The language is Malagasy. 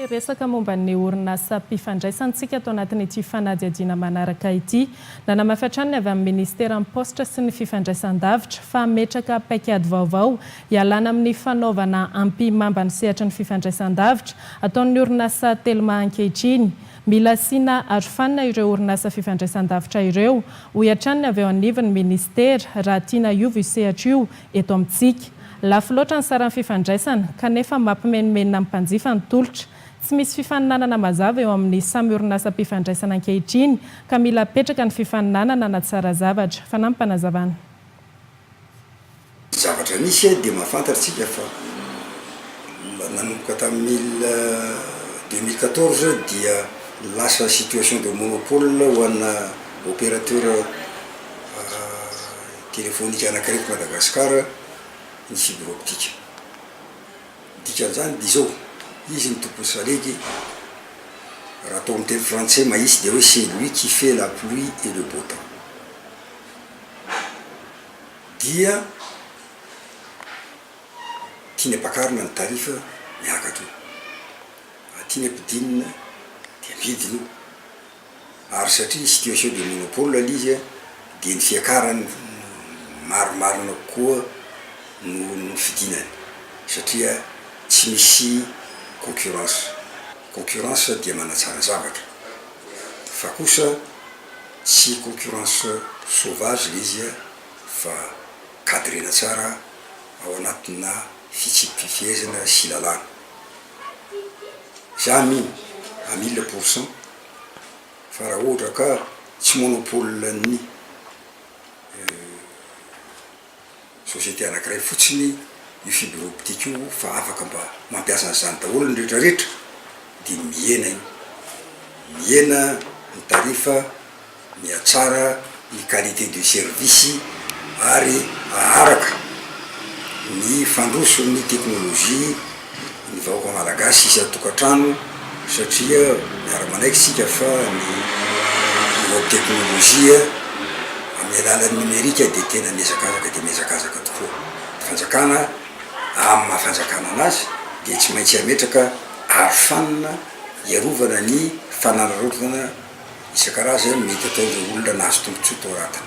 Te hiresaka momba ny orinasam-pifandraisantsika tao anatin'ity fanadihadiana manaraka ity. Nanamafy hatrany ny avy amin'ny Ministeran'ny Paositra sy ny Fifandraisandavitra fa hametraka paikady vaovao hialana amin'ny fanaovana ampihimamba ny sehatry ny fifandraisandavitra ataon'ny orinasa Telma ankehitriny. Mila asiana arofanina ireo orinasa fifandraisandavitra ireo, hoy hatrany ny avy eo anivon'ny Ministera, raha tiana hiova io sehatra io eto amintsika. Lafo loatra ny saran'ny fifandraisana, kanefa mampimenomenona ny mpanjifa ny tolotra. Tsy misy fifaninanana mazava eo amin'ny samy orinasam-pifandraisana ankehitriny, ka mila apetraka ny fifaninanana hanatsara zavatra. Fanampim-panazavana. Ny zavatra misy dia mahafantatrtsika fa nanomboka tamin'ny mille, deux mille quatorze dia lasa situation de monopole ho ana opérateur Telefonika anankiray eto Madagasikara ny fibre optique. Ny dikan'izany dia izao, izy ny tompony salegy, raha atao amin'ny teny frantsay mahitsy dia hoe c'est lui qui fait la pluie et le beau temps. Dia tiany ampakarina ny tarif miakatra io, raha tiany ampidinina dia ampidiny io. ary satria situation de monopole ilay izy dia ny fiakarany marimarina kokoa no no fidinany satria tsy misy concurrence, concurrence dia manatsara zavatra fa kosa tsy concurrence sauvage ilay izy fa cadrena tsara ao anatina fitsipi-pifehezana sy lalàna. Za mino à mille pour cent fa raha ohatra ka tsy monopole ny société anankiray fotsiny io fibre optique io fa afaka mba mampiasa an'izany daholo ny retraretra dia mihena io, mihena ny tarif. Mihatsara ny qualité de service ary haharaka ny fandroson'ny teknolojia ny vahoaka malagasy isan-tokantrano satria miara-manaiky isika fa ny nouvelle teknolojia amin'ny alalan'ny nomerika dia tena mihazakazaka dia mihazakazaka tokoa. Ny fanjakana amin'ny maha fanjakana anazy dia tsy maintsy hametraka arofanina. hiarovana ny fanararaotana isan-karazany mety ataon'ireo olona nahazo tombontsoa tao anatiny.